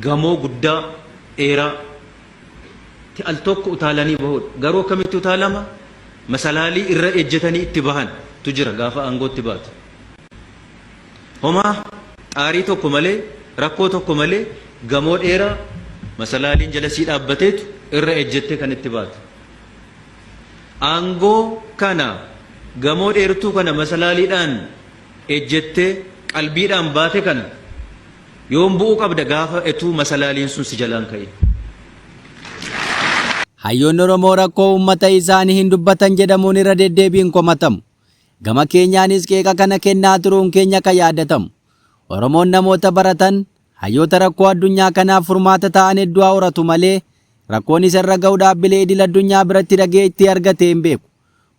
Gamoo guddaa, dheeraa, tti al tokko utaalanii bahuudha. Garuu akkamitti utaalama? Masalaalii irra ejjetanii itti bahan tu jira gaafa aangootti baatu. Homaa xaarii tokko malee, rakkoo tokko malee gamoo dheeraa masalaaliin jala sii dhaabbateetu irra ejjettee kan itti baatu. Aangoo kana gamoo dheertuu kana masalaaliidhaan ejjettee qalbiidhaan baate kana yoom bu'uu qabda gaafa etuu masalaaliin sun si jalaan ka'e. Hayyoonni Oromoo rakkoo uummata isaanii hin dubbatan jedhamuun irra deddeebiin komatamu. Gama keenyaanis qeeqa kana kennaa turuun keenya kan yaadatamu. Oromoon namoota baratan, hayyoota rakkoo addunyaa kanaaf furmaata ta'an hedduu haa horatu malee, rakkoon isa irra gahu dhaabbilee idil addunyaa biratti dhageettii argatee hin beeku.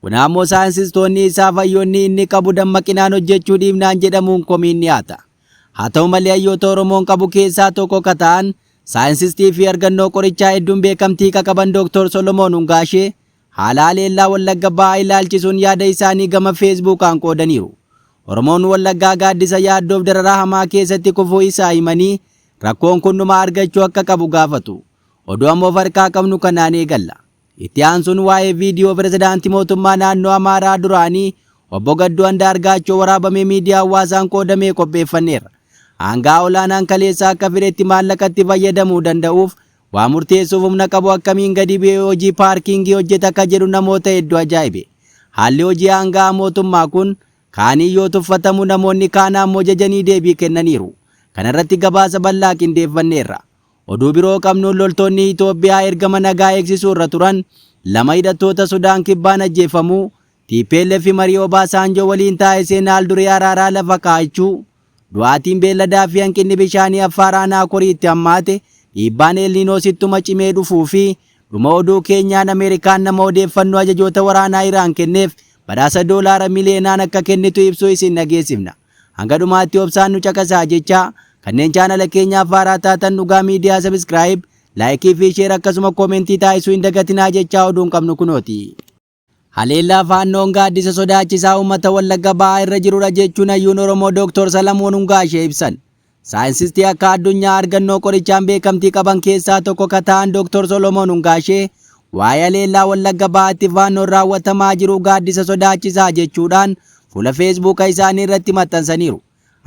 Kun ammoo saayinsistoonni isaaf hayyoonni inni qabu dammaqinaan hojjechuu dhiifnaan jedhamuun komiin dhiyaata. Haa ta'u malee hayyoota Oromoon qabu keessaa tokko ka ta'an, saayinsistiifi argannoo qorichaa hedduun beekamtii ka qaban Dr. Solomoon Hungaashee, Haala haleellaa Wallagga Bahaa ilaalchisuun yaada isaanii gama Feesbuukaan qoodaniiru. Oromoon Wallaggaa gaaddisa yaaddoof dararaa hamaa keessatti kufuu isaa himanii, rakkoon kun dhuma argachuu akka qabu gaafatu. Oduu amma of harkaa qabnu kanaan eegalla. Itti aansuun waa'ee viidiyoo Pirezidaantii Mootummaa Naannoo Amaaraa duraanii Obbo Gadduu Andaargaachoo waraabamee miidiyaa hawwaasaan qoodamee qopheeffanneerra. Aanga'aa olaanaan kaleessa akka fedhetti maallaqa itti fayyadamuu danda'uuf Waa murteessuuf humna qabu akkamiin gadi bu'ee hojii paarkiingii hojjeta ka jedhu namoota heddu ajaa'ibe. Haalli hojii aanga'aa mootummaa kun kaaniin yoo tuffatamu namoonni kaan ammoo jajanii deebii kennaniiru. Kanarratti gabaasa bal'aa qindeeffanneerra. Oduu biroo qabnuun loltoonni Itoophiyaa ergama nagaa eegsisuurra turan lama hidhattoota Sudaan Kibbaan ajjeefamuu, tplf marii Obaasaanjoo waliin taasiseen haal duree araaraa lafa kaa'achuu, Du'aatiin beelladaa fi hanqinni bishaanii Affaar Aanaa Koriitti hammaate, dhiibbaan El Niinoos ittuma cimee dhufuu fi Dhuma oduu keenyaan Ameerikaan nama odeeffannoo ajajoota waraanaa Iraan kenneef badhaasa doolaara miliyeenaan akka kennitu ibsuu isin dhageessifna. Hanga dhumaatti obsaan nu caqasaa jechaa, kanneen chaanala keenyaaf haaraa taatan Dhugaa Miidiyaa Subscribe, Like fi Share akkasuma Comment taasisuu hin dagatinaa jechaa oduun qabnu kunooti. Haleellaa Faannoon gaaddisa sodaachisaa uummata Wallagga Bahaa irra jirudha jechuun hayyuun Oromoo Dooktor Salamoon Hungaashee ibsan. Saayinsistii akka addunyaa argannoo qorichaan beekamtii qaban keessaa tokko ka ta'an Dooktor Solomoon Hungaashee waa'ee haleellaa Wallagga Bahaatti Faannoon raawwatamaa jiru gaaddisa sodaachisaa jechuudhaan fuula Feesbuuka isaanii irratti maxxansaniiru.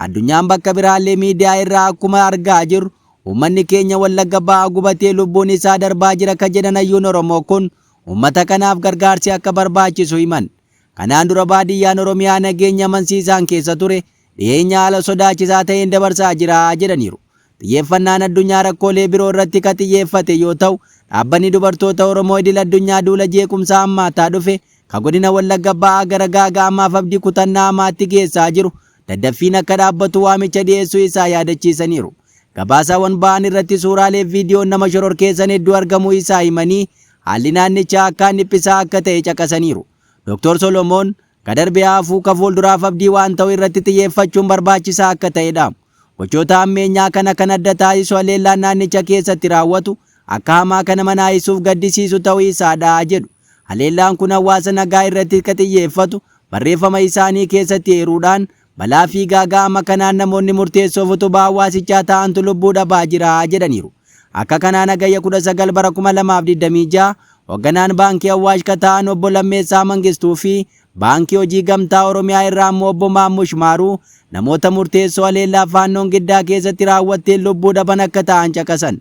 Addunyaan bakka biraallee miidiyaa irraa akkuma argaa jirru uummanni keenya Wallagga Bahaa gubatee lubbuun isaa darbaa jira ka jedhan hayyuun Oromoo kun uummata kanaaf gargaarsi akka barbaachisu himan. Kanaan dura baadiyyaan Oromiyaa nageenya amansiisaan keessa ture dhiyeenya haala sodaachisaa ta'een dabarsaa jira jedhaniiru. Xiyyeeffannaan addunyaa rakkoolee biroo irratti ka xiyyeeffate yoo ta'u, Dhaabbanni Dubartoota Oromoo Idil-addunyaa duula jeequmsaa hammaataa dhufe ka godina Wallagga Ba'aa gara gaaga'amaaf abdii kutannaa hamaatti geessaa jiru daddaffiin akka dhaabbatu waamicha dhiyeessuu isaa yaadachiisaniiru. Gabaasaawwan ba'an irratti suuraalee fi viidiyoon nama shororkeessan hedduu argamuu isaa himanii, haalli naannichaa akkaan dhiphisaa akka ta'e caqasaniiru. Doktor Solomoon, Ka darbe haa hafuu, ka fuulduraaf abdii waan ta'u irratti xiyyeeffachuun barbaachisaa akka ta'e dhaamu. Gochoota hammeenyaa kana kan adda taasisu haleellaan naannicha keessatti raawwatu akka hamaa kan nama naasisuuf gaddisiisu ta'uu isaa dha, jedhu. Haleellaan kun hawaasa nagaa irratti ka xiyyeeffatu barreeffama isaanii keessatti eeruudhaan, balaa fi gaaga'ama kanaan namoonni murteessoof utubaa hawaasichaa ta'antu lubbuu dhabaa jira, jedhaniiru. Akka kanaan Hagayya 19 bara 2026 hogganaan Baankii Awwaash ka ta'an Obbo Lammeessaa Mangistuu fi Baankii Hojii Gamtaa Oromiyaa irraa ammoo Obbo Maammush Maaruu namoota murteessoo haleellaa Faannoon Giddaa keessatti raawwatteen lubbuu dhaban akka ta'an caqasan.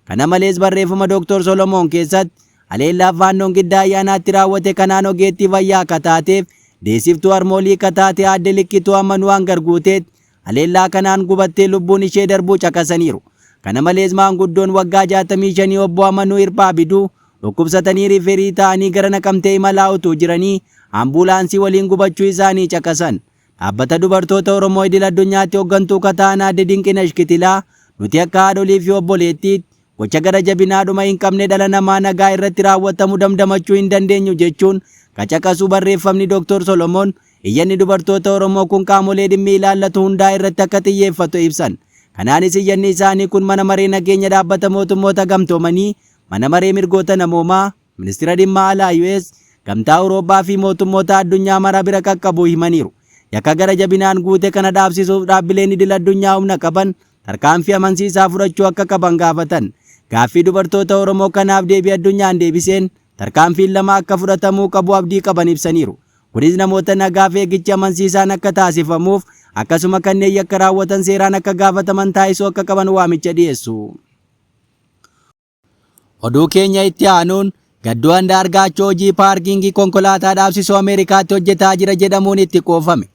Kana malees barreeffama Dr. Solomoon keessatti haleellaa Faannoon Giddaa Ayyaanaatti raawwate kanaan ogeettii fayyaa ka taateef deessiftuu harmoolii ka taate Aadde Likkituu Ammanuu Angar Guuteetti haleellaa kanaan gubattee lubbuun ishee darbuu caqasaniiru. Kana malees maanguddoon waggaa 65 Obbo Amanuu Hirphaa Biduu dhukkubsatanii riiferii ta'anii gara Naqamtee imalaa utuu jiranii ambulaansii waliin gubachuu isaanii caqasan. Dhaabbata Dubartoota Oromoo Idil Addunyaatti hoggantuu ka ta'an Aadde Dinqinash Kitilaa, Nuti akka haadholiifi obboleettiitti, gocha gara jabinaa dhuma hin qabne dhala namaa nagaa irratti raawwatamu damdamachuu hin dandeenyu jechuun ka caqasu barreeffamni Doktor Solomoon, iyyanni dubartoota Oromoo kun qaamolee dhimmi ilaallatu hundaa irratti akka xiyyeeffatu ibsan. Kanaanis iyyanni isaanii kun Mana Maree Nageenya Dhaabbata Mootummoota Gamtoomanii, Mana Maree Mirgoota Namoomaa, Ministira Dhimma Alaa US, Gamtaa Awuroophaa fi mootummoota addunyaa mara bira qaqqabuu himaniiru. Yakka gara jabinaan guute kana dhaabsisuuf dhaabbileen idil addunyaa humna qaban tarkaanfii amansiisaa fudhachuu akka qaban gaafatan. Gaaffii dubartoota Oromoo kanaaf deebii Addunyaan deebiseen tarkaanfiin lama akka fudhatamuu qabu abdii qaban ibsaniiru. Kunis namoota nagaaf eegichi amansiisaan akka taasifamuuf akkasuma kanneen yakka raawwatan seeraan akka gaafataman taasisuu akka qaban waamicha dhiyeessu. Oduu keenya itti aanuun Gadduu Andaargaachoo hojii paarkiingii konkolaataa dhaabsisuu Ameerikaatti hojjetaa jira jedhamuun itti qoofame.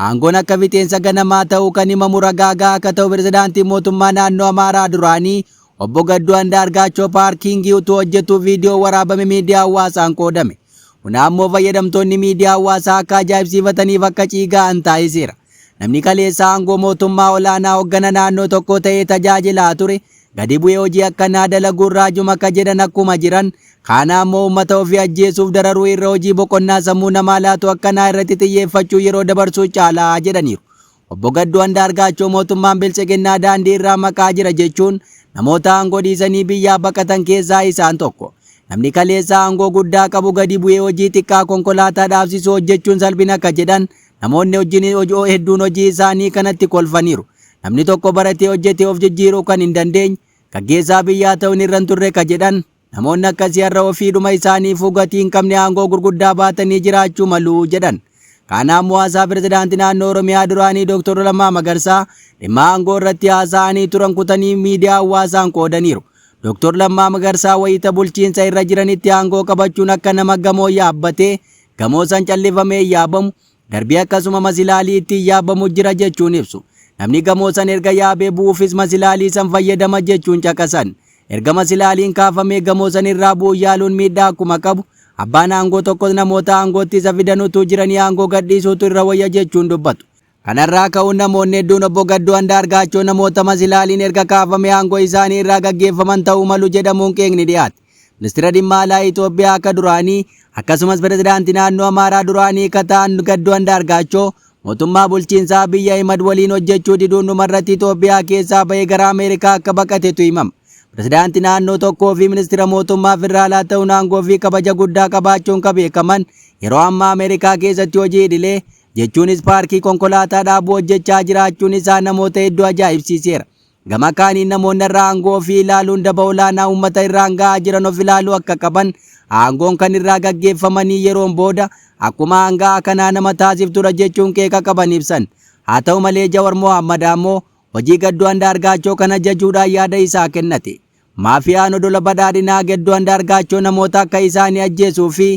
Aangoon akka fixeensa ganamaa ta'uu kan himamu ragaa gahaa akka ta'u pirezidaantiin mootummaa naannoo Amaaraa duraanii obbo Gadduu Andaargaachoo paarkiingii utuu hojjetuu viidiyoo waraabame miidiyaa hawaasaan qoodame. Kun ammoo fayyadamtoonni miidiyaa hawaasaa akka ajaa'ibsiifataniif akka ciiga'an taasiseera. Namni kaleessa aangoo mootummaa olaanaa hoggana naannoo tokkoo ta'ee tajaajilaa ture gadi bu'ee hojii akkanaa dalaguun raajuum akka jedhan akkuma jiran kaana ammoo uummata ofii ajjeesuuf dararuu irra hojii boqonnaa sammuu namaa laatu akkanaa irratti xiyyeeffachuun yeroo dabarsuu caala jedhaniiru. Obbo Gadduu Andaargaachoo mootummaan Biltsiginnaa daandii irraa maqaa jira jechuun namoota aangoo dhiisanii biyyaa baqatan keessaa isaan tokko. Namni kaleessa aangoo guddaa qabu gadi bu'ee hojii xiqqaa konkolaataa dhaabsisuu hojjechuun salphina akka jedhan Namoonni hojjin hojoo hedduun hojii isaanii kanatti kolfaniiru. Namni tokko baratee hojjetee of jijjiiruu kan hin dandeenye, gaggeessaa biyyaa ta'uun irra hin turre ka jedhan namoonni akkasii har'a ofiidhuma isaaniifuu gatii hin qabne aangoo gurguddaa baatanii jiraachuu malu jedhan. Kaan ammoo haasaa Pirezidaantii Naannoo Oromiyaa duraanii Dr. Lammaa Magarsaa dhimma aangoo irratti haasa'anii turan kutanii miidiyaa hawwaasaan qoodaniiru. Dr. Lammaa Magarsaa wayita bulchiinsa irra jiranitti aangoo qabachuun akka nama gamoo yaabbatee gamoo san callifamee hin yaabamu, darbii akkasuma masilaalii ittiin yaabamu jira jechuun ibsu. Namni gamoo san erga yaabee bu'uufis masilaalii san fayyadama jechuun caqasan. Erga masilaaliin kaafamee gamoo san irraa bu'uun yaaluun miidhaa akkuma qabu, abbaan aangoo tokkos namoota aangootti isa fidan utuu jiranii aangoo gadhiisuutu irra wayya jechuun dubbatu. Kanarraa ka'uun namoonni hedduun Obbo Gadduu Andaargaachoo namoota masilaaliin erga kaafamee aangoo isaanii irraa gaggeeffaman ta'uu malu jedhamuun qeeqni dhiyaate Ministira Dhimma Alaa Itoophiyaa ka duraanii akkasumas Pirezidaantii Naannoo Amaaraa duraanii ka ta'an Gadduu Andaargaachoo mootummaa bulchiinsa Abiy Ahimad waliin hojjechuu diduun dhumarratti Itoophiyaa keessaa ba'ee gara Ameerikaa akka baqatetu himama. Pirezidaantii naannoo tokkoo fi ministira mootummaa federaalaa ta'uun aangoo fi kabaja guddaa qabaachuun ka beekaman yeroo ammaa Ameerikaa keessatti hojii idilee jechuunis paarkii konkolaataa dhaabuu hojjechaa jiraachuun isaa namoota hedduu ajaa'ibsiiseera. Gama kaaniin namoonni irraa aangoo ofii ilaaluun daba olaanaa uummata irraan ga'aa jiran of ilaaluu akka qaban, aangoon kan irraa gaggeeffamanii yeroon booda akkuma aanga'aa kanaa nama taasiftudha jechuun qeeqa qaban ibsan. Haa ta'u malee Jawar Mohaammad ammoo hojii Gadduu Andaargaachoo kana jajuudhaan yaada isaa kennate. Maafiyaan odola badhaadhinaa Gedduu Andaargaachoo namoota akka isaa ni ajjeesuu fi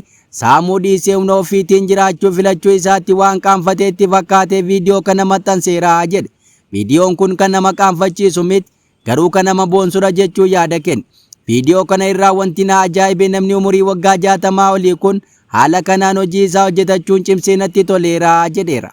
saamuu dhiisee humna ofiitiin jiraachuu filachuu isaatti waan qaanfatee itti fakkaatee viidiyoo kana maxxanseera, jedhe. Viidiyoon kun kan nama qaanfachiisu mit, garuu kan nama boonsudha jechuun yaada kenne. Viidiyoo kana irraa wanti na ajaa'ibe namni umurii waggaa 60 olii kun haala kanaan hojii isaa hojjetachuun cimsee natti toleera, jedheera.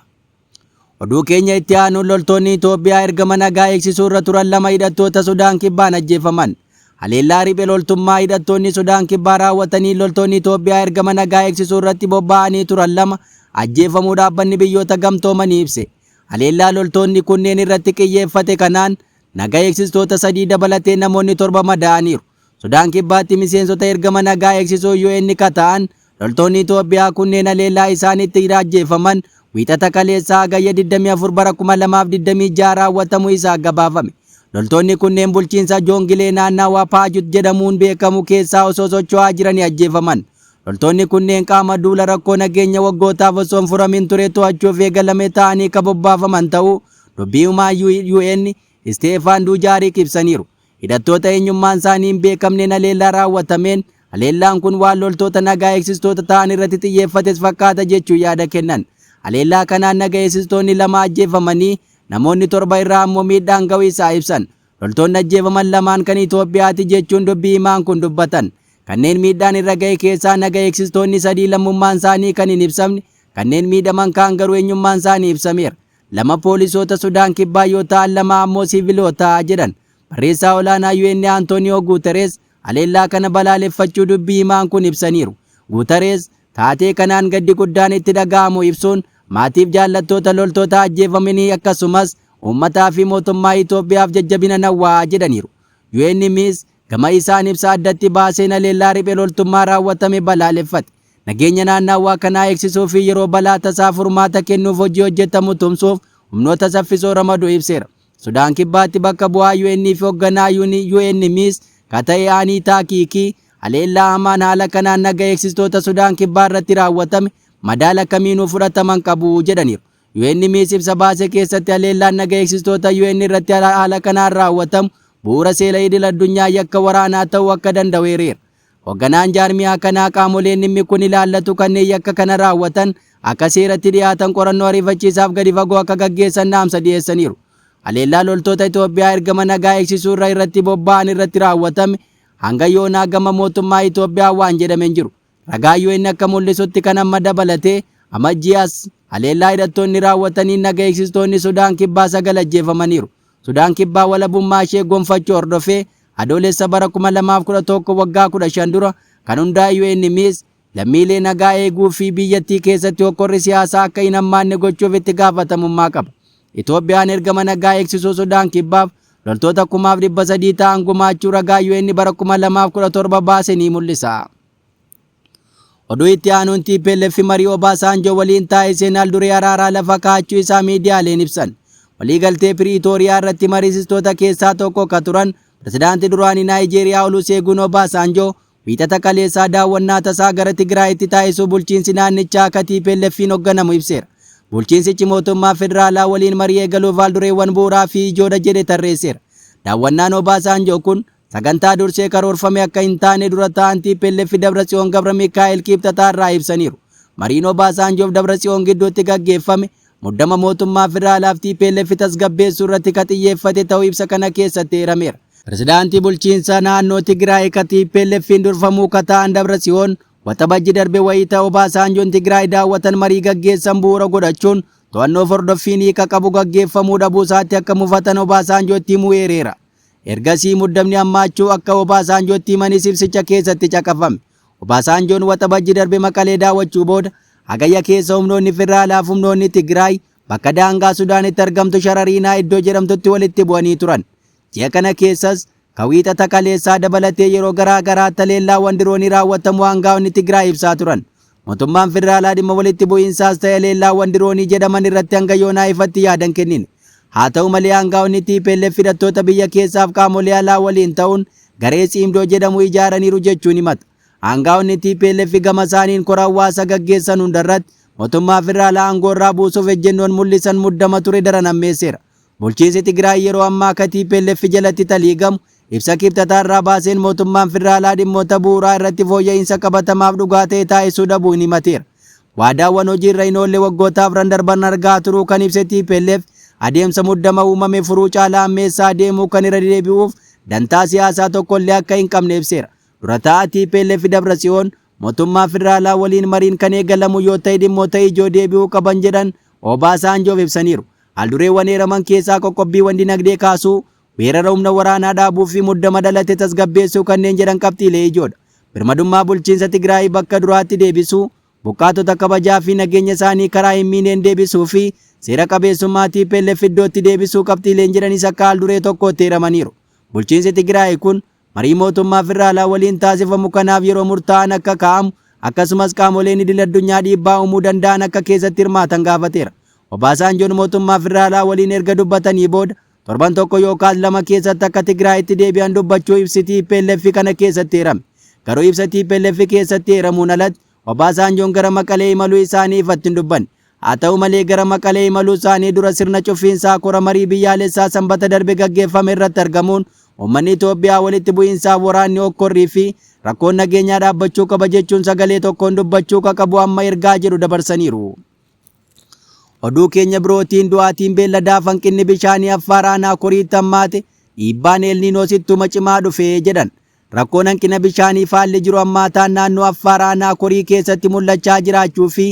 Oduu keenya itti aanuun loltoonni Itoophiyaa ergama nagaa eegsisuu irra turan lama hidhattoota Sudaan Kibbaan ajjeefaman. Haleellaa riphee loltummaa hidhattoonni Sudaan Kibbaa raawwatanii loltoonni Itoophiyaa ergama nagaa eegsisuu irratti bobba'anii turan lama ajjeefamuu dhaabbanni biyyoota gamtoomanii ibse. Haleellaa loltoonni kunneen irratti qiyyeeffate kanaan naga eegsistoota sadii dabalatee namoonni torba madaa'aniiru. Sudaan Kibbaatti miseensota ergama nagaa eegsisuu UN ka ta'an loltoonni Itoophiyaa kunneen haleellaa isaan itti iraajjeeffaman Wiixata kaleessaa Hagayya 24 bara 2026 raawwatamu isaa gabaafame. Loltoonni kunneen bulchiinsa Joongilee naannawa Paajut jedhamuun beekamu keessaa osoo socho'aa jiranii ajjeefaman. Loltoonni kunneen qaama duula rakkoo nageenya waggootaaf osoo hin furamin ture to'achuuf eegalame ta'anii ka bobbaafaman ta'uu dubbii himaan UN Isteefaan Duujaarik ibsaniiru. Hidhattoota eenyummaan isaanii hin beekamneen haleellaa raawwatameen haleellaan kun waan loltoota nagaa eegsistoota ta'an irratti xiyyeeffates fakkaata jechuun yaada kennan. Haleellaa kanaan naga eegsistoonni lama ajjeefamanii namoonni torba irra ammoo miidhaan ga'u isaa ibsan. Loltoonni ajjeefaman lamaan kan Itoophiyaati jechuun dubbii himaan kun dubbatan. Kanneen miidhaan irra ga'e keessaa naga eegsistoonni sadii lammummaan isaanii kan hin ibsamne, kanneen miidhaman kaan garuu eenyummaan isaanii ibsameera. lama poolisoota Sudaan Kibbaa yoo ta'an lama ammoo siiviloota, jedhan barreessaa olaanaa UN Antooniyoo Guuterees haleellaa kana balaaleffachuu dubbii himaan kun ibsaniiru. Guuterees taatee kanaan gaddi guddaan itti dhaga'amu ibsuun maatiif jaallattoota loltoota ajjeefamanii akkasumas uummataa fi mootummaa Itoophiyaaf jajjabina nawwa jedhaniiru. UNmis gama isaan ibsa addatti baaseen haleellaa riphe loltummaa raawwatame balaaleffate. Nageenya naannaawwaa kanaa eegsisuu fi yeroo balaa tasaa furmaata kennuuf hojii hojjetamu tumsuuf humnoota saffisoo ramadu ibseera. Sudaan Kibbaatti bakka bu'aa UN fi hogganaa UN, UNMIS, ka ta'e Aniitaa Kiikii, haleellaa hamaan haala kanaan naga eegsistoota Sudaan Kibbaa irratti raawwatame madaala kamiinuu fudhataman qabu jedhaniiru. UNMIS ibsa baase keessatti haleellaan naga eegsistoota UN irratti haala kanaan raawwatamu bu'uura seela idil addunyaa yakka waraanaa ta'uu akka danda'u eereera. Hogganaan jaarmiyaa kanaa qaamoleen dhimmi kun ilaallatu kanneen yakka kana raawwatan akka seeratti dhiyaatan qorannoo ariifachiisaaf gadi fagoo akka gaggeessan dhaamsa dhiyeessaniiru. Haleellaa loltoota Itoophiyaa ergama nagaa eegsisuurra irratti bobba'an irratti raawwatame hanga yoonaa gama mootummaa Itoophiyaa waan jedhame hin jiru. Ragaan UN akka mul'isutti kan amma dabalatee Amajjii as haleellaa hidhattoonni raawwataniin naga eegsistoonni Sudaan Kibbaa sagal ajjeefamaniiru. Sudaan Kibbaa walabummaa ishee gonfachuu hordofee Adoolessa bara 2011 waggaa 15 dura kan hundaa'e UNMIS lammiilee nagaa eeguu fi biyyattii keessatti hokkorri siyaasaa akka hin hammaanne gochuuf itti gaafatamummaa qaba. Itoophiyaan ergama nagaa eegsisuu Sudaan Kibbaaf loltoota kumaaf 300 ta'an gumaachuu ragaa UN bara 2017 baase ni mul'isa. Oduu itti aanuun TPLF marii Obaasaanjoo waliin taasiseen haalduree araaraa lafa kaa'achuu isaa miidiyaaleen ibsan. Waliigaltee Piriitooriyaa irratti mariisistoota keessaa tokko ka turan pirezidaantii duraanii Naayijeeriyaa Oluseeguun Obaasaanjoo wiixata kaleessaa daawwannaa tasaa gara Tigraayitti taasisuu bulchiinsi naannichaa ka TPLFiin hogganamu ibseera. Bulchiinsichi mootummaa federaalaa waliin marii eegaluuf haaldureewwan bu'uuraa fi ijoodha jedhe tarreesseera. Daawwannaan Obaasaanjoo kun Sagantaa dursee karoorfame akka hin taane dura taa'an TPLF Dabratsiyoon Gabramikaa'el Kiibxataa irraa ibsaniiru. Mariin Obaasaanjoof Dabratsiyoon gidduutti gaggeeffame muddama mootummaa federaalaaf TPLF tasgabbeessuu irratti ka xiyyeeffate ta'uu ibsa kana keessatti eerameera. Pirezidaantii bulchiinsa naannoo Tigraay ka TPLF'n durfamuu ka taa'an Dabratsiyoon Waxabajji darbe wayita Obaasaanjoon Tigraay daawwatan marii gaggeessan bu'uura godhachuun to'annoof hordoffiin hiika qabu gaggeeffamuu dhabuu isaatti akka mufatan Obaasaanjootti himuu eereera. Ergasii muddamni hammaachuu akka Obaasaanjootti himanis ibsicha keessatti caqafame. Obaasaanjoon Waxabajji darbe Maqalee daawwachuu booda Hagayya keessa humnoonni federaalaaf humnoonni Tigraay bakka daangaa Sudaanitti argamtu Sharariinaa iddoo jedhamtutti walitti bu'anii turan. Ji'a kana keessas ka wiixata kaleessaa dabalatee yeroo garaa garaatti haleellaawwan diroonii raawwatamuu aangaa'onni Tigraay ibsaa turan. Motummaan Federaalaa dhimma walitti bu'iinsaas ta'e haleellaawwan diroonii jedhaman irratti hanga yoonaa ifatti yaada hin kennine. Haa ta'u malee aangaa'onni tplf hidhattoota biyya keessaaf qaamolee alaa waliin ta'uun garee Tsiimdoo jedhamu ijaaraniiru jechuun himata. Aangaa'onni tplf gama isaaniin kora hawwaasa gaggeessan hundarratti motummaa Federaalaa aangoorraa buusuuf ejjennoon mul'isan muddama ture daran hammeesseera. Bulchiinsi Tigraay yeroo ammaa akka tplf jalatti taliigamu ibsa Kibxata har'aa baaseen mootummaan federaalaa dhimmoota bu'uuraa irratti fooyya'iinsa qabatamaaf dhugaa ta'e taasisuu dhabuu hin himateera. Waadaawwan hojii irra hin oolle waggoota afran darban argaa turuu kan ibse tplf adeemsa muddama uumame furuu caalaa hammeessaa adeemuu kan irra deebi'uuf dantaa siyaasaa tokkollee akka hin qabne ibseera. Dura taa'aa tplf Dabratsiyoon Motummaa Federaalaa waliin mariin kan eegalamu yoo ta'e dhimmoota ijoo deebi'uu qaban jedhan Obaasaanjoof ibsaniiru. Haaldureewwan eeraman keessaa qoqqobbiiwwan dinagdee kaasuu, weerara humna waraanaa dhaabuu fi muddama dhalate tasgabbeessuu kanneen jedhan qabxiilee ijoodha. Birmadummaa bulchiinsa Tigraay bakka duraatti deebisuu, buqqaatota kabajaa fi nageenya isaanii karaa hin miineen deebisuu fi seera qabeessummaa tplf iddootti deebisuu qabxiileen jedhanis akka haalduree tokkootti eeramaniiru. Bulchiinsi Tigraay kun marii mootummaa federaalaa waliin taasifamu kanaaf yeroo murtaa'an akka kaa'amu akkasumas qaamoleen idil addunyaa dhiibbaa uumuu danda'an akka keessatti hirmaatan gaafateera. Obaasaanjoon mootummaa federaalaa waliin erga dubbatanii booda torban tokko yookaas lama keessatti akka Tigraayitti deebi'an dubbachuu ibsi TPLF kana keessatti eerame. Garuu ibsa TPLF keessatti eeramuun alatti Obaasaanjoon gara Maqalee imaluu isaanii ifatti hin dubbanne. Haa ta'u malee gara Maqalee imaluu isaanii dura sirna cuffiinsaa kora marii biyyaalessaa Sanbata darbe gaggeeffame irratti argamuun uummanni Itoophiyaa walitti bu'iinsaaf waraanni hokkorrii fi rakkoon nageenyaa dhaabbachuu qaba jechuun sagalee tokkoon dubbachuu ka qabu amma ergaa jedhu dabarsaniiru. Oduu keenya birootiin du'aatiin beelladaa fanqinni bishaanii Affaar aanaa Koriitti hammaate dhiibbaan Eelniinoos ittuma cimaa dhufe jedhan Rakkoon hanqina bishaanii faalli jiru hammaataan naannoo Affaar aanaa Korii keessatti mul'achaa jiraachuu fi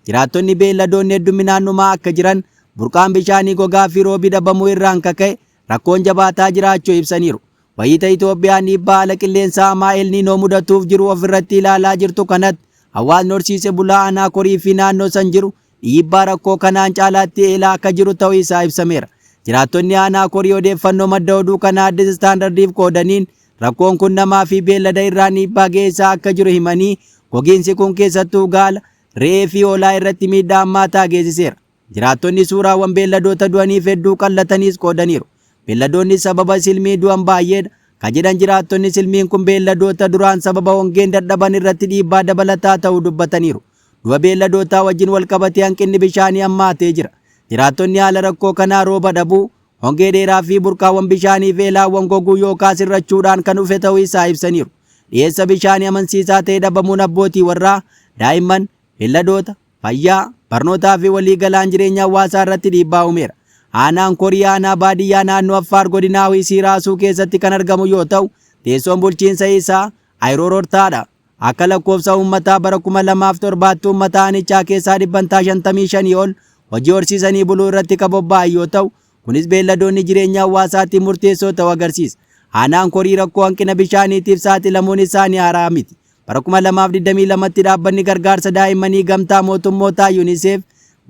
jiraattonni beelladoonni hedduminaan dhumaa akka jiran, burqaan bishaanii gogaa fi roobi dhabamuu irraan ka ka'e rakkoon jabaataa jiraachuu ibsaniiru. Wayiita Itoophiyaan dhiibbaa haala qilleensaa hamaa El Niinoo mudatuuf jiru of irratti ilaalaa jirtu kanatti hawaasni horsiise bulaa aanaa Korii fi naannoo san jiru dhiibbaa rakkoo kanaan caalaatti eelaa akka jiru ta'uu isaa ibsameera. Jiraattonni aanaa korii odeeffannoo madda oduu kanaa Addis Standardiif qoodaniin rakkoon kun namaa fi beellada irraan dhiibbaa geessaa akka jiru himanii gogiinsi kun keessattuu gaala, re'ee fi hoolaa irratti miidhaa hammaataa geessiseera. Jiraattonni suuraawwan beelladoota du'aniif hedduu qallataniis qoodaniiru. Beelladoonni sababa silmii du'an baay'eedha. Ka jedhan jiraattonni silmiin kun beelladoota duraan sababa hongeen dadhaban irratti dhiibbaa dabalataa ta'uu dubbataniiru. Du'a beelladootaa wajjin walqabatee hanqinni bishaanii hammaatee jira. Jiraattonni haala rakkoo kanaa rooba dhabuu, hongee dheeraa fi burqaawwan bishaanii fi elaawwan goguu yookaas hir'achuudhaan kan dhufe ta'uu isaa ibsaniiru. Dhiyeessa bishaanii amansiisaa ta'e dhabamuun abbootii warraa, daa'imman, beelladoota, fayyaa, barnootaa fi walii galaan jireenya hawaasaa irratti dhiibbaa uumeera. Aanaan Korii aanaa baadiyyaa naannoo Affaar godinaa Huisii Raasuu keessatti kan argamu yoo ta'u, teessoon bulchiinsa isaa Ayiroorortaadha. Akka lakkoofsa uummataa bara 2007tti uummata aanichaa keessaa dhibbantaa 55 ol hojii horsiisanii buluu irratti kan bobba'an yoo ta'u, kunis beelladoonni jireenya hawaasaatiif murteessoo ta'uu agarsiisa. Aanaan Korii rakkoo hanqina bishaaniitiif saaxilamuun isaa ni haaraa miti. Bara 2022tti dhaabbanni gargaarsa daa'immanii gamtaa mootummootaa UNICEF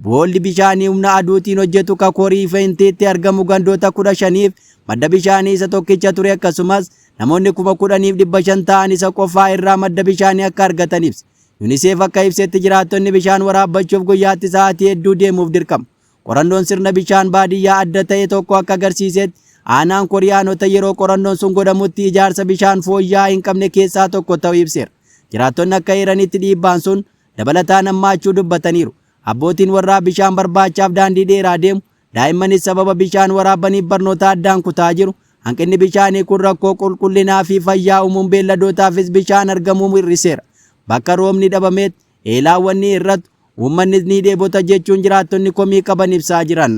boolli bishaanii humna aduutiin hojjetu ka Korii Fentiitti argamu gandoota 15f madda bishaanii isa tokkicha ture akkasumas namoonni kuma kudhaniif dhibba shan ta'an isa qofaa irraa madda bishaanii akka argatan ibse. Yuniseef akka ibsetti jiraattonni bishaan waraabbachuuf guyyaatti sa'aatii hedduu deemuuf dirqamu. Qorannoon sirna bishaan baadiyyaa adda ta'e tokko akka agarsiisetti aanaan koriyaanota yeroo qorannoon sun godhamutti ijaarsa bishaan fooyya'aa hin qabne keessaa tokko ta'uu ibseera. Jiraattonni akka eeranitti dhiibbaan sun dabalataan hammaachuu dubbataniiru. Abbootiin warraa bishaan barbaachaaf daandii dheeraa deemu, Daa'immanis sababa bishaan waraabbaniif barnoota addaan kutaa jiru. Hanqinni bishaanii kun rakkoo qulqullinaa fi fayyaa uumuun beelladootaafis bishaan argamuu hir'iseera. Bakka roobni dhabameetti eelaawwan ni hir'atu, uummannis ni dheebota jechuun jiraattonni komii qaban ibsaa jiran.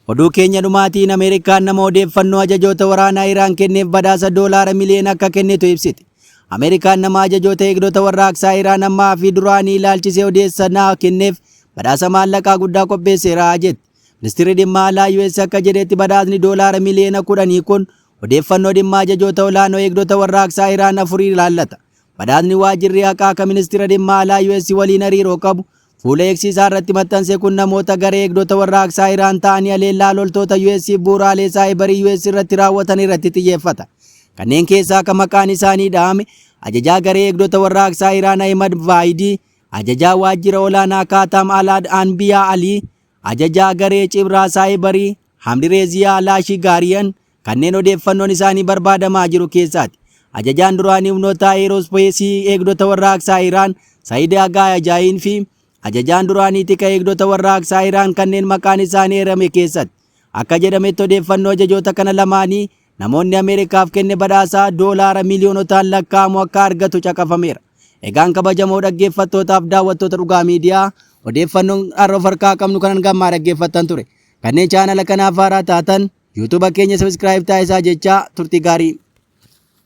Oduu keenya dhumaatiin Ameerikaan nama odeeffannoo ajajoota waraanaa Iraan kenneef badhaasa doolaara miliyoona akka kennitu ibsite. Ameerikaan nama ajajoota eegdota warraaqsaa Iraan ammaa fi duraanii ilaalchisee odeessa naa kenneef badhaasa maallaqaa guddaa qopheesseera jette. Ministirri dhimma alaa US akka jedhetti badhaasni doolaara miliyoona kudhanii kun odeeffannoo dhimma ajajoota olaanoo eegdota warraaqsaa Iraan afurii ilaallata. Badhaasni waajirri haqaa ka ministira dhimma alaa US waliin hariiroo qabu Fuula X isaa irratti maxxanse kun namoota garee eegdota warraaqsaa Iraan ta'anii haleellaa loltoota US fi bu'uuraalee saayibarii US irratti raawwatan irratti xiyyeeffata. Kanneen keessaa kan maqaan isaanii dhahame ajajaa garee eegdota warraaqsaa Iraan Ahimad Vaayidii, ajajaa waajjira olaanaa Kaataam Alaad Anbiyaa Alii, ajajaa garee cibraa saayibarii Hamdireeziyaa Laashii Gaariyan, Kanneen odeeffannoon isaanii barbaadamaa jiru keessaati Ajajaan duraanii humnoota Ayeerospeesii Eegdota Warraaqsaa Iraan Said Aghayajain fi Ajajaan duraanii Tika Eegdota Warraaqsaa Iraan kanneen maqaan isaanii eerame keessatti. Akka jedhametti odeeffannoo ajajoota kana lamaanii namoonni Ameerikaaf kenne badhaasa doolaara miiliyoonotaan lakkaa'amu akka argatu caqafameera. Egaan kabajamoo dhaggeeffattootaaf daawwattoota Dhugaa Miidiyaa odeeffannoon har'a of harkaa qabnu kan hanga ammaa dhaggeeffattan ture. Kanneen chaanala kanaaf haaraa taatan YouTube keenya subscribe taasisaa jechaa turtii gaarii.